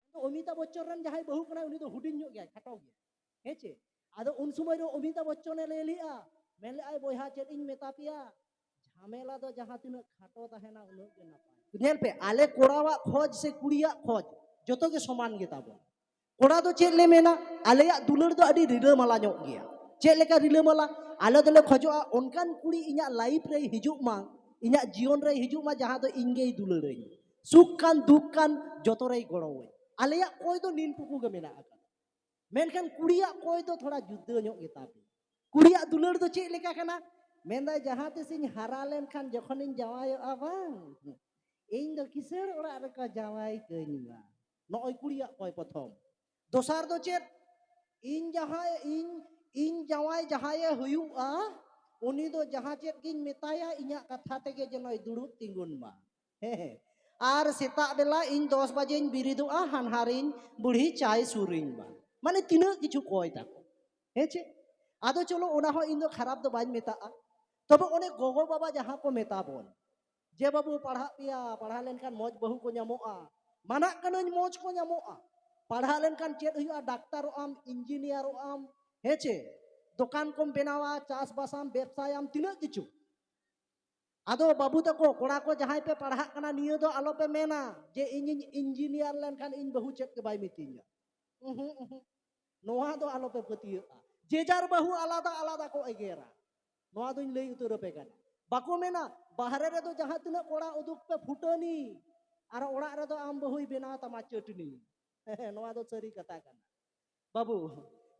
ᱟᱫᱚ ᱚᱢᱤᱛᱟ ᱵᱚᱪᱪᱚᱱ ᱨᱮᱱ ᱡᱟᱦᱟᱸᱭ ᱵᱟᱹᱦᱩ ᱠᱟᱱᱟᱭ ᱩᱱᱤ ᱫᱚ ᱦᱩᱰᱤᱧ ᱧᱚᱜ ᱜᱮᱭᱟᱭ ᱠᱷᱟᱴᱚ ᱜᱮᱭᱟᱭ ᱦᱮᱸ ᱪᱮ ᱟᱫᱚ ᱩᱱ ᱥᱚᱢᱚᱭ ᱨᱮ ᱚᱢᱤᱛᱟ ᱵᱚᱪᱪᱚᱱᱮ ᱞᱟᱹᱭ ᱞᱮᱜᱼᱟ ᱢᱮᱱ ᱞᱮᱜᱼᱟᱭ ᱵᱚᱭᱦᱟ ᱪᱮᱫ ᱤᱧ ᱢᱮᱛᱟ ᱯᱮᱭᱟ ᱡᱷᱟᱢᱮᱞᱟ ᱫᱚ ᱡᱟᱦᱟᱸ ᱛᱤᱱᱟᱹᱜ ᱠᱷᱟᱴᱚ ᱛᱟᱦᱮᱱᱟ ᱩᱱᱟᱹᱜ ᱜᱮ ᱱᱟᱯᱟᱭ ᱧᱮᱞ ᱯᱮ ᱟᱞᱮ ᱠᱚᱲᱟᱣᱟᱜ ᱠᱷᱚᱡ ᱥᱮ ᱠᱩᱲᱤᱭᱟᱜ ᱠᱷᱚᱡ ᱡᱚᱛᱚ ᱜᱮ ᱥᱚᱢᱟᱱ ᱜᱮ ᱛᱟᱵᱚᱱ ᱠᱚᱲᱟ ᱫᱚ ᱪᱮᱫ ᱞᱮ ᱢᱮᱱᱟ ᱟᱞᱮᱭᱟᱜ ᱫᱩᱞᱟᱹᱲ ᱫᱚ ᱟᱹᱰᱤ ᱨᱤᱞᱟᱹᱢᱟᱞᱟ ᱧᱚᱜ ᱜᱮᱭᱟ ᱪᱮᱫ ᱞᱮᱠᱟ ᱨᱤᱞᱟᱹᱢᱟᱞᱟ ᱟᱞᱮ ᱫᱚᱞᱮ ᱠᱷᱚᱡᱚᱜᱼᱟ ᱚᱱᱠᱟᱱ ᱠᱩᱲᱤ ᱤᱧᱟᱹᱜ ᱞᱟᱭᱤᱯᱷ ᱨᱮ ᱦᱤᱡᱩᱜ ᱢᱟ ᱤᱧᱟᱹᱜ ᱡᱤᱭᱚᱱ ᱨᱮ ᱦᱤᱡᱩᱜ ᱢᱟ ᱡᱟᱦᱟᱸ ᱫᱚ ᱤᱧ ᱜᱮᱭ ᱫᱩᱞᱟᱹᱲᱟᱹᱧ ᱥᱩᱠ ᱠᱟᱱ ᱫᱩᱠ ᱠᱟᱱ ᱡᱚᱛᱚ ᱨᱮᱭ ᱜᱚᱲᱚᱣᱟᱹᱧ ᱟᱞᱮᱭᱟᱜ ᱠᱚᱭ ᱫᱚ ᱱᱤᱱ ᱴᱩᱠᱩ ᱜᱮ ᱢᱮᱱᱟᱜ ᱟᱠᱟᱫᱟ ᱢᱮᱱᱠᱷᱟᱱ ᱠᱩᱲᱤᱭᱟᱜ ᱠᱚᱭ ᱫᱚ ᱛᱷᱚᱲᱟ ᱡᱩᱫᱟᱹ ᱧᱚᱜ ᱜᱮᱛᱟ ᱯᱮ ᱠᱩᱲᱤᱭᱟᱜ ᱫᱩᱞᱟᱹᱲ ᱫᱚ ᱪᱮᱫ ᱞᱮᱠᱟ ᱠᱟᱱᱟ ᱢᱮᱱᱫᱟᱭ ᱡᱟᱦᱟᱸ ᱛᱤᱥᱤᱧ ᱦᱟᱨᱟ ᱞᱮᱱᱠᱷᱟᱱ ᱡᱚᱠᱷᱚᱱᱤᱧ ᱡᱟᱶᱟᱭᱚᱜᱼᱟ ᱵᱟᱝ ᱤᱧ ᱫᱚ ᱠᱤᱥᱟᱹᱬ ᱚᱲᱟᱜ ᱨᱮᱠᱚ ᱡᱟᱶᱟᱭ ᱠᱟᱹᱧ ᱢᱟ ᱱᱚᱜᱼᱚᱭ ᱠᱩᱲᱤᱭᱟᱜ ᱠᱚᱭ ᱯᱨᱚᱛᱷᱚᱢ ᱫᱚᱥᱟᱨ ᱫᱚ ᱪᱮᱫ ᱤᱧ ᱡᱟᱦᱟᱸᱭ ᱤᱧ ᱤᱧ ᱡᱟᱶᱟᱭ ᱡᱟᱦᱟᱸᱭᱮ ᱦᱩᱭᱩᱜᱼᱟ ᱩᱱᱤ ᱫᱚ ᱡᱟᱦᱟᱸ ᱪᱮᱫ ᱜᱤᱧ ᱢᱮᱛᱟᱭᱟ ᱤᱧᱟᱹᱜ ᱠᱟᱛᱷᱟ ᱛᱮᱜᱮ ᱡᱮᱱᱚᱭ ᱫᱩᱲᱩᱵ ᱛᱤᱸᱜᱩᱱ ᱢᱟ ᱦᱮᱸ ᱟᱨ ᱥᱮᱛᱟᱜ ᱵᱮᱞᱟ ᱤᱧ ᱫᱚᱥ ᱵᱟᱡᱮᱧ ᱵᱤᱨᱤᱫᱚᱜᱼᱟ ᱦᱟᱱᱦᱟᱨᱤᱧ ᱵᱩᱲᱦᱤ ᱪᱟᱭ ᱥᱩᱨᱤᱧ ᱢᱟ ᱢᱟᱱᱮ ᱛᱤᱱᱟᱹᱜ ᱠᱤᱪᱷᱩ ᱠᱚᱭ ᱛᱟᱠᱚ ᱦᱮᱸ ᱪᱮ ᱟᱫᱚ ᱪᱚᱞᱚ ᱚᱱᱟ ᱦᱚᱸ ᱤᱧ ᱫᱚ ᱠᱷᱟᱨᱟᱯ ᱫᱚ ᱵᱟᱹᱧ ᱢᱮᱛᱟᱜᱼᱟ ᱛᱚᱵᱮ ᱚᱱᱮ ᱜᱚᱜᱚ ᱵᱟᱵᱟ ᱡᱟᱦᱟᱸ ᱠᱚ ᱢᱮᱛᱟ ᱵᱚᱱ ᱡᱮ ᱵᱟᱹᱵᱩ ᱯᱟᱲᱦᱟᱜ ᱯᱮᱭᱟ ᱯᱟᱲᱦᱟᱣ ᱞᱮᱱᱠᱷᱟᱱ ᱢᱚᱡᱽ ᱵᱟᱹᱦᱩ ᱠᱚ ᱧᱟᱢᱚᱜᱼᱟ ᱢᱟᱱᱟᱜ ᱠᱟᱹᱱᱟᱹᱧ ᱢᱚᱡᱽ ᱠᱚ ᱧᱟᱢᱚᱜᱼᱟ ᱯᱟᱲᱦᱟᱣ ᱞᱮᱱᱠᱷᱟᱱ ᱪᱮᱫ ᱦᱩᱭᱩᱜᱼᱟ ᱰᱟᱠᱛᱟᱨᱚᱜ ᱟᱢ ᱤᱧᱡᱤᱱᱤᱭᱟᱨᱚᱜ ᱟᱢ ᱦᱮᱸ ᱪᱮ ᱫᱚᱠᱟᱱ ᱠᱚᱢ ᱵᱮᱱᱟᱣᱟ ᱪᱟᱥᱵᱟᱥᱟᱢ ᱵᱮᱵᱥᱟᱭᱟᱢ ᱛᱤᱱᱟᱹᱜ ᱠᱤᱪᱷᱩ ᱟᱫᱚ ᱵᱟᱹᱵᱩ ᱛᱟᱠᱚ ᱠᱚᱲᱟ ᱠᱚ ᱡᱟᱦᱟᱸᱭ ᱯᱮ ᱯᱟᱲᱦᱟᱜ ᱠᱟᱱᱟ ᱱᱤᱭᱟᱹ ᱫᱚ ᱟᱞᱚ ᱯᱮ ᱢᱮᱱᱟ ᱡᱮ ᱤᱧᱤᱧ ᱤᱧᱡᱤᱱᱤᱭᱟᱨ ᱞᱮᱱᱠᱷᱟᱱ ᱤᱧ ᱵᱟᱹᱦᱩ ᱪᱮᱫ ᱜᱮ ᱵᱟᱭ ᱢᱤᱛᱟᱹᱧᱟ ᱩᱦᱩ ᱩᱦᱩ ᱱᱚᱣᱟ ᱫᱚ ᱟᱞᱚ ᱯᱮ ᱯᱟᱹᱛᱭᱟᱹᱜᱼᱟ ᱡᱮ ᱡᱟᱨ ᱵᱟᱹᱦᱩ ᱟᱞᱟᱫᱟ ᱟᱞᱟᱫᱟ ᱠᱚ ᱮᱜᱮᱨᱟ ᱱᱚᱣᱟ ᱫᱚᱧ ᱞᱟᱹᱭ ᱩᱛᱟᱹᱨ ᱟᱯᱮ ᱠᱟᱱᱟ ᱵᱟᱠᱚ ᱢᱮᱱᱟ ᱵᱟᱦᱨᱮ ᱨᱮᱫᱚ ᱡᱟᱦᱟᱸ ᱛᱤᱱᱟᱹᱜ ᱠᱚᱲᱟ ᱩᱫᱩᱜ ᱯᱮ ᱯᱷᱩᱴᱟᱹᱱᱤ ᱟᱨ ᱚᱲᱟᱜ ᱨᱮᱫᱚ ᱟᱢ ᱵᱟᱹᱦᱩᱭ ᱵᱮᱱᱟᱣ ᱛᱟᱢᱟ ᱪᱟᱹᱴᱱᱤ ᱱᱚᱣᱟ ᱫᱚ ᱥᱟᱹᱨᱤ ᱠᱟᱛᱷᱟ ᱠᱟᱱᱟ ᱵᱟᱹᱵᱩ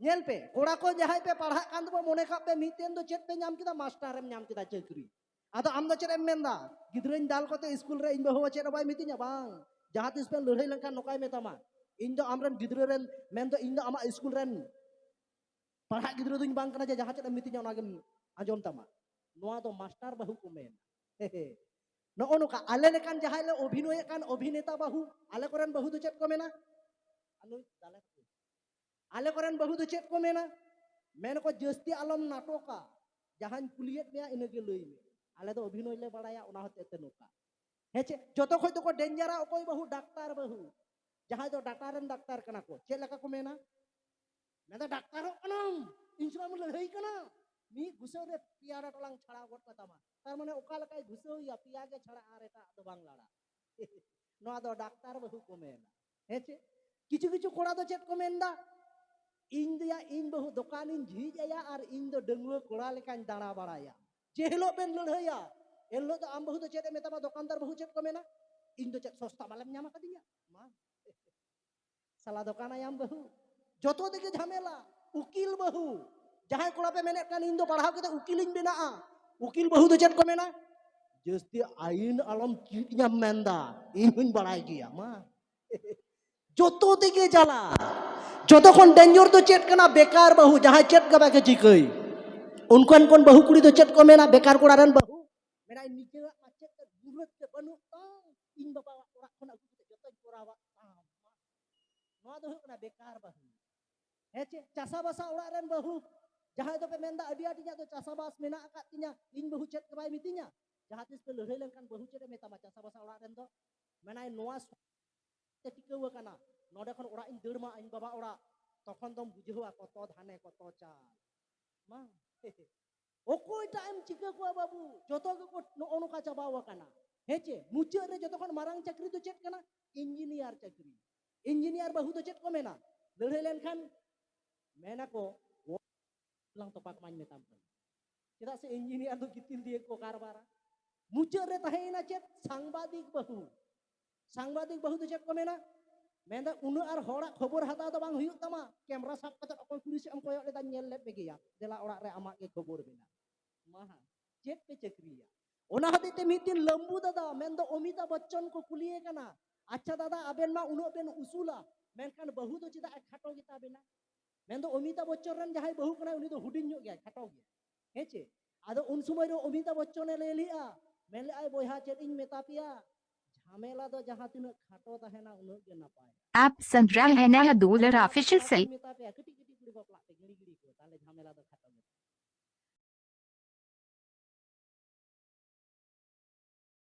ᱧᱮᱞ ᱯᱮ ᱠᱚᱲᱟ ᱠᱚ ᱡᱟᱦᱟᱸᱭ ᱯᱮ ᱯᱟᱲᱦᱟᱜ ᱠᱟᱱ ᱛᱟᱵᱚ ᱢᱚᱱᱮ ᱠᱟᱜ ᱯᱮ ᱢᱤᱫ ᱫᱤᱱ ᱫᱚ ᱪᱮᱫ ᱯᱮ ᱧᱟᱢ ᱠᱮᱫᱟ ᱢᱟᱥᱴᱟᱨᱮᱢ ᱧᱟᱢ ᱠᱮᱫᱟ ᱪᱟᱹᱠᱨᱤ ᱟᱫᱚ ᱟᱢ ᱫᱚ ᱪᱮᱫ ᱮᱢ ᱢᱮᱱᱫᱟ ᱜᱤᱫᱽᱨᱟᱹᱧ ᱫᱟᱞ ᱠᱚᱛᱮ ᱤᱥᱠᱩᱞ ᱨᱮ ᱤᱧ ᱵᱟᱹᱦᱩ ᱪᱮᱫ ᱦᱚᱸ ᱵᱟᱭ ᱢᱤᱛᱟᱹᱧᱟ ᱵᱟᱝ ᱡᱟᱦᱟᱸ ᱛᱤᱥ ᱯᱮ ᱞᱟᱹᱲᱦᱟᱹᱭ ᱞᱮᱱᱠᱷᱟᱱ ᱱᱚᱝᱠᱟᱭ ᱢᱮᱛᱟᱢᱟ ᱤᱧ ᱫᱚ ᱟᱢᱨᱮᱱ ᱜᱤᱫᱽᱨᱟᱹ ᱨᱮᱱ ᱢᱮᱱᱫᱚ ᱤᱧ ᱫᱚ ᱟᱢᱟᱜ ᱤᱥᱠᱩᱞ ᱨᱮᱱ ᱯᱟᱲᱦᱟᱜ ᱜᱤᱫᱽᱨᱟᱹ ᱫᱚᱧ ᱵᱟᱝ ᱠᱟᱱᱟ ᱡᱮ ᱡᱟᱦᱟᱸ ᱪᱮᱫ ᱮᱢ ᱢᱤᱛᱟᱹᱧᱟ ᱚᱱᱟᱜᱮᱢ ᱟᱸᱡᱚᱢ ᱛᱟᱢᱟ ᱱᱚᱣᱟ ᱫᱚ ᱢᱟᱥᱴᱟᱨ ᱵᱟᱹᱦᱩ ᱠᱚ ᱢᱮᱱᱟ ᱱᱚᱜᱼᱚ ᱱᱚᱝᱠᱟ ᱟᱞᱮ ᱞᱮᱠᱟᱱ ᱡᱟᱦᱟᱸᱭ ᱞᱮ ᱚᱵᱷᱤᱱᱚᱭᱮᱫ ᱠᱟᱱ ᱚᱵᱷᱤᱱᱮᱛᱟ ᱵᱟᱹᱦᱩ ᱟᱞᱮ ᱠᱚᱨᱮᱱ ᱵᱟᱹᱦᱩ ᱫᱚ ᱪᱮᱫ ᱠᱚ ᱢᱮᱱᱟ ᱟᱞᱮ ᱠᱚᱨᱮᱱ ᱵᱟᱹᱦᱩ ᱫᱚ ᱪᱮᱫ ᱠᱚ ᱢᱮᱱᱟ ᱢᱮᱱ ᱠᱚ ᱡᱟᱹᱥᱛᱤ ᱟᱞᱚᱢ ᱱᱟᱴᱚᱠᱟ ᱡᱟᱦᱟᱸᱧ ᱠᱩᱞᱤᱭᱮᱫ ᱢᱮᱭᱟ ᱤᱱᱟᱹᱜᱮ ᱞᱟᱹᱭ ᱢᱮ ᱟᱞᱮ ᱫᱚ ᱚᱵᱷᱤᱱᱚᱭ ᱞᱮ ᱵᱟᱲᱟᱭᱟ ᱚᱱᱟ ᱦᱚᱛᱮᱡ ᱛᱮ ᱱᱚᱝᱠᱟ ᱦᱮᱸ ᱪᱮ ᱡᱚᱛᱚ ᱠᱷᱚᱡ ᱫᱚᱠᱚ ᱰᱮᱧᱡᱟᱨᱟ ᱚᱠᱚᱭ ᱵᱟᱹᱦᱩ ᱰᱟᱠᱛᱟᱨ ᱵᱟᱹᱦᱩ ᱡᱟᱦᱟᱸᱭ ᱫᱚ ᱰᱟᱴᱟ ᱨᱮᱱ ᱰᱟᱠᱛᱟᱨ ᱠᱟᱱᱟ ᱠᱚ ᱪᱮᱫ ᱞᱮᱠᱟ ᱠᱚ ᱢᱮᱱᱟ ᱢᱮᱱᱫᱟ ᱰᱟᱠᱛᱟᱨᱚᱜ ᱠᱟᱱᱟᱢ ᱤᱧ ᱥᱚᱢᱚᱭ ᱞᱟᱹᱲᱦᱟᱹᱭ ᱠᱟᱱᱟ ᱢᱤᱫ ᱜᱩᱥᱟᱹᱣ ᱨᱮ ᱯᱮᱭᱟ ᱰᱟᱴᱚᱞᱟᱝ ᱪᱷᱟᱲᱟᱣ ᱜᱚᱫ ᱠᱟᱛᱟᱢᱟ ᱛᱟᱨ ᱢᱟᱱᱮ ᱚᱠᱟ ᱞᱮᱠᱟᱭ ᱜᱷᱩᱥᱟᱹᱣᱮᱭᱟ ᱯᱮᱭᱟ ᱜᱮ ᱪᱷᱟᱲᱟ ᱟᱨ ᱮᱴᱟᱜ ᱫᱚ ᱵᱟᱝ ᱞᱟᱲᱟ ᱱᱚᱣᱟ ᱫᱚ ᱰᱟᱠᱛᱟᱨ ᱵᱟᱹᱦᱩ ᱠᱚ ᱢᱮᱱᱟ ᱦᱮᱸ ᱪᱮ ᱠᱤᱪᱷᱩ ᱠᱤᱪᱷᱩ ᱠᱚᱲᱟ ᱫᱚ ᱪᱮᱫ ᱠᱚ ᱢᱮᱱᱫᱟ ᱤᱧ ᱫᱚᱭᱟ ᱤᱧ ᱵᱟᱹᱦᱩ ᱫᱚᱠᱟᱱᱤᱧ ᱡᱷᱤᱡ ᱟᱭᱟ ᱟᱨ ᱤᱧ ᱫᱚ ᱰᱟᱺᱜᱩᱣᱟᱹ ᱠᱚᱲᱟ ᱞᱮᱠᱟᱧ ᱫᱟᱬᱟ ᱵᱟᱲᱟᱭᱟ ᱡᱮ ᱦᱤᱞᱳᱜ ᱵᱮᱱ ᱞᱟᱹᱲᱦᱟᱹᱭᱟ ᱮᱱ ᱦᱤᱞᱳᱜ ᱫᱚ ᱟᱢ ᱵᱟᱹᱦᱩ ᱫᱚ ᱪᱮᱫ ᱮ ᱢᱮᱛᱟᱢᱟ ᱫᱚᱠᱟᱱᱫᱟᱨ ᱵᱟᱹᱦᱩ ᱪᱮᱫ ᱠᱚ ᱢᱮᱱᱟ ᱤᱧ ᱫᱚ ᱪᱮᱫ ᱥᱚᱥᱛᱟ ᱢᱟᱞᱮᱢ ᱧᱟᱢ ᱟᱠᱟᱫᱤᱧᱟ ᱢᱟ ᱥᱟᱞᱟ ᱫᱚᱠᱟᱱᱟᱭᱟᱢ ᱵᱟᱹᱦᱩ ᱡᱚᱛᱚ ᱛᱮᱜᱮ ᱡᱷᱟᱢᱮᱞᱟ ᱩᱠᱤᱞ ᱵᱟᱹᱦᱩ ᱡᱟᱦᱟᱸᱭ ᱠᱚᱲᱟ ᱯᱮ ᱢᱮᱱᱮᱫ ᱠᱟᱱ ᱤᱧ ᱫᱚ ᱯᱟᱲᱦᱟᱣ ᱠᱟᱛᱮ ᱩᱠᱤᱞᱤᱧ ᱵᱮᱱᱟᱜᱼᱟ ᱩᱠᱤᱞ ᱵᱟᱹᱦᱩ ᱫᱚ ᱪᱮᱫ ᱠᱚ ᱢᱮᱱᱟ ᱡᱟᱹᱥᱛᱤ ᱟᱭᱤᱱ ᱟᱞᱚᱢ ᱪᱮᱫ ᱧᱟᱢ ᱢᱮᱱᱫᱟ ᱤᱧ ᱦᱚᱧ ᱵᱟᱲᱟᱭ ᱜᱮᱭᱟ ᱢᱟ ᱡᱚᱛᱚ ᱛᱮᱜᱮ ᱡᱟᱞᱟ ᱡᱚᱛᱚ ᱠᱷᱚᱱ ᱰᱮᱧᱡᱚᱨ ᱫᱚ ᱪᱮᱫ ᱠᱟᱱᱟ ᱵᱮᱠᱟᱨ ᱵᱟᱹᱦᱩ ᱡᱟᱦᱟᱸᱭ ᱪᱮᱫ ᱜᱮ ᱵᱟᱠᱚ ᱪᱤᱠᱟᱹᱭ ᱩᱱᱠᱟᱱ ᱠᱚᱱ ᱵᱟᱹᱦᱩ ᱠᱩᱲᱤ ᱫᱚ ᱪᱮᱫ ᱠᱚ ᱢᱮᱱᱟ ᱵᱮᱠᱟᱨ ᱠᱚᱲᱟ ᱨᱮᱱ ᱵᱟᱹᱦᱩ ᱢᱮᱱᱟᱭ ᱱᱤᱡᱮᱨᱟᱜ ᱢᱟᱪᱮᱫ ᱜᱩᱨᱩᱛ ᱵᱟᱹᱱᱩᱜ ᱛᱟᱢ ᱤᱧ ᱵᱟᱵᱟᱣᱟᱜ ᱚᱲᱟᱜ ᱠᱷᱚᱱ ᱟᱹᱜᱩ ᱠᱟᱛᱮ ᱡᱚᱛᱚᱧ ᱠᱚᱨᱟᱣᱟᱜ ᱛᱟᱢ ᱱᱚᱣᱟ ᱫᱚ ᱦᱩᱭᱩᱜ ᱠᱟᱱᱟ ᱵᱮᱠᱟᱨ ᱵᱟᱹᱦᱩ ᱦᱮᱸ ᱪᱮ ᱪᱟᱥᱟ ᱵᱟᱥᱟ ᱚᱲᱟᱜ ᱨᱮᱱ ᱵᱟᱹᱦᱩ ᱡᱟᱦᱟᱸᱭ ᱫᱚᱯᱮ ᱢᱮᱱᱫᱟ ᱟᱹᱰᱤ ᱟᱸᱴ ᱤᱧᱟᱹᱜ ᱫᱚ ᱪᱟᱥᱟ ᱵᱟᱥ ᱢᱮᱱᱟᱜ ᱟᱠᱟᱫ ᱛᱤᱧᱟ ᱤᱧ ᱵᱟᱹᱦᱩ ᱪᱮᱫ ᱜᱮ ᱵᱟᱭ ᱢᱤᱛᱟᱹᱧᱟ ᱡᱟᱦᱟᱸ ᱛᱤᱥ ᱯᱮ ᱞᱟᱹᱲᱦᱟᱹᱭ ᱞᱮᱱᱠᱷᱟᱱ ᱵᱟᱹᱦᱩ ᱪᱮᱫ ᱮ ᱢᱮᱛᱟᱢᱟ ᱪᱟᱥᱟ ᱵᱟᱥᱟ ᱚᱲᱟᱜ ᱨᱮᱱ ᱫᱚ ᱢᱮᱱᱟᱭ ᱱᱚᱣᱟ ᱛᱮ ᱴᱤᱠᱟᱹᱣ ᱟᱠᱟᱱᱟ ᱱᱚᱰᱮ ᱠᱷᱚᱱ ᱚᱲᱟᱜ ᱤᱧ ᱫᱟᱹᱲ ᱢᱟ ᱤᱧ ᱵᱟᱵᱟ ᱚᱲᱟᱜ ᱛᱚᱠᱷᱚᱱ ᱫᱚᱢ ᱵᱩᱡᱷᱟᱹᱣᱟ ᱠᱚᱛᱚ ᱫᱷᱟᱱᱮ ᱠᱚᱛᱚ ᱪᱟᱞ ᱢᱟ ᱚᱠᱚᱭ ᱴᱟᱜ ᱮᱢ ᱪᱤᱠᱟᱹ ᱠᱚᱣᱟ ᱵᱟᱹᱵᱩ ᱡᱚᱛᱚ ᱜᱮᱠᱚ ᱱᱚᱜᱼᱚ ᱱᱚᱝᱠᱟ ᱪᱟᱵᱟᱣ ᱟᱠᱟᱱᱟ ᱦᱮᱸ ᱪᱮ ᱢᱩᱪᱟᱹᱫ ᱨᱮ ᱡᱚᱛᱚ ᱠᱷᱚᱱ ᱢᱟᱨᱟᱝ ᱪᱟᱹᱠᱨᱤ ᱫᱚ ᱪᱮᱫ ᱠᱟᱱᱟ ᱤᱧᱡᱤᱱᱤᱭᱟᱨ ᱪᱟᱹᱠᱨᱤ ᱤᱧᱡᱤᱱᱤᱭᱟᱨ ᱵᱟᱹᱦᱩ ᱫᱚ ᱪᱮᱫ ᱠᱚ ᱢᱮᱱᱟ ᱞᱟᱹᱲᱦᱟᱹᱭ ᱞᱮᱱᱠᱷᱟᱱ ᱢᱮᱱᱟᱠᱚ ᱞᱟᱝ ᱛᱚᱯᱟᱜ ᱢᱟᱧ ᱢᱮᱛᱟᱢ ᱠᱟᱱᱟ ᱪᱮᱫᱟᱜ ᱥᱮ ᱤᱧᱡᱤᱱᱤᱭᱟᱨ ᱫᱚ ᱜᱤᱛᱤᱞ ᱫᱤᱭᱮ ᱠᱚ ᱠᱟᱨᱵᱟᱨᱟ ᱢᱩᱪᱟᱹᱫ ᱨᱮ ᱛᱟᱦᱮᱸᱭᱮᱱᱟ ᱪᱮᱫ ᱥᱟᱝᱵᱟᱫᱤᱠ ᱵᱟᱹᱦᱩ ᱥᱟᱝᱵᱟᱫᱤᱠ ᱵᱟᱹᱦᱩ ᱫᱚ ᱪᱮᱫ ᱠᱚ ᱢᱮᱱᱟ ᱢᱮᱱᱫᱟ ᱩᱱᱟᱹᱜ ᱟᱨ ᱦᱚᱲᱟᱜ ᱠᱷᱚᱵᱚᱨ ᱦᱟᱛᱟᱣ ᱫᱚ ᱵᱟᱝ ᱦᱩᱭᱩᱜ ᱛᱟᱢᱟ ᱠᱮᱢᱨᱟ ᱥᱟᱵ ᱠᱟᱛᱮ ᱚᱠᱚᱭ ᱠᱩᱲᱤ ᱥᱮᱫ ᱮᱢ ᱠᱚᱭᱚᱜ ᱞᱮᱫᱟ ᱧᱮᱞ ᱞᱮᱫ ᱢᱮᱜᱮᱭᱟ ᱫᱮᱞᱟ ᱚᱲᱟᱜ ᱨᱮ ᱟᱢᱟᱜ ᱜᱮ ᱠᱷᱚᱵᱚᱨ ᱢᱮᱱᱟᱜ ᱢᱟᱦᱟ ᱪᱮᱫ ᱯᱮ ᱪᱟᱹᱠᱨᱤᱭᱟ ᱚᱱᱟ ᱦᱚᱛᱮᱡ ᱛᱮ ᱢᱤᱫ ᱫᱤᱱ ᱞᱟᱢᱵᱩ ᱫᱟᱫᱟ ᱢᱮᱱᱫᱚ ᱚᱢᱤᱛᱟ ᱵᱚᱪᱪᱚᱱ ᱠᱚ ᱠᱩᱞᱤᱭᱮ ᱠᱟᱱᱟ ᱟᱪᱪᱷᱟ ᱫᱟᱫᱟ ᱟᱵᱮᱱ ᱢᱟ ᱩᱱᱟᱹᱜ ᱵᱮᱱ ᱩᱥᱩᱞᱟ ᱢᱮᱱᱠᱷᱟᱱ ᱵᱟᱹᱦᱩ ᱫᱚ ᱪᱮᱫᱟᱜ ᱠᱷᱟᱴᱚ ᱜᱮᱛᱟ ᱵᱮᱱᱟ ᱢᱮᱱᱫᱚ ᱚᱢᱤᱛᱟ ᱵᱚᱪᱪᱚᱱ ᱨᱮᱱ ᱡᱟᱦᱟᱸᱭ ᱵᱟᱹᱦᱩ ᱠᱟᱱᱟᱭ ᱩᱱᱤ ᱫᱚ ᱦᱩᱰᱤᱧ ᱧᱚᱜ ᱜᱮᱭᱟᱭ ᱠᱷᱟᱴᱚ ᱜᱮᱭᱟᱭ ᱦᱮᱸ ᱪᱮ ᱟᱫᱚ ᱩᱱ ᱥᱚᱢᱚᱭ ᱨᱮ ᱚᱢᱤᱛᱟᱵ ᱵᱚᱪᱪᱚᱱᱮ ᱞᱟᱹᱭ ᱞᱮᱜᱼᱟ ᱢᱮᱱ ᱞᱮᱜᱼᱟᱭ ᱵᱚᱭᱦᱟ ᱪᱮᱫ ᱤᱧ ᱢᱮᱛᱟ ᱯᱮᱭᱟ ᱡᱷᱟᱢᱮᱞᱟ ᱫᱚ ᱡᱟᱦᱟᱸ ᱛᱤᱱᱟᱹᱜ ᱠᱷᱟᱴᱚ ᱛᱟᱦᱮᱱᱟ ᱩᱱᱟᱹᱜ ᱜᱮ ᱱᱟᱯᱟᱭ ᱟᱯ ᱥᱟᱱᱫᱨᱟ ᱦᱮᱱᱟ ᱫᱩᱞᱟᱨ ᱚᱯᱷᱤᱥᱤᱭᱟᱞ ᱥᱮ ᱢᱮᱛᱟ ᱯᱮᱭᱟ ᱠᱟᱹᱴᱤᱡ ᱠᱟᱹᱴᱤᱡ ᱠᱩᱲᱤ ᱵᱟᱯᱞᱟᱜ ᱛᱮ ᱜᱤᱲᱤ ᱜᱤᱲᱤ ᱠᱚ ᱛᱟᱦᱞᱮ ᱡᱷᱟᱢᱮᱞᱟ ᱫᱚ ᱠᱷᱟᱴᱚ ᱜᱮ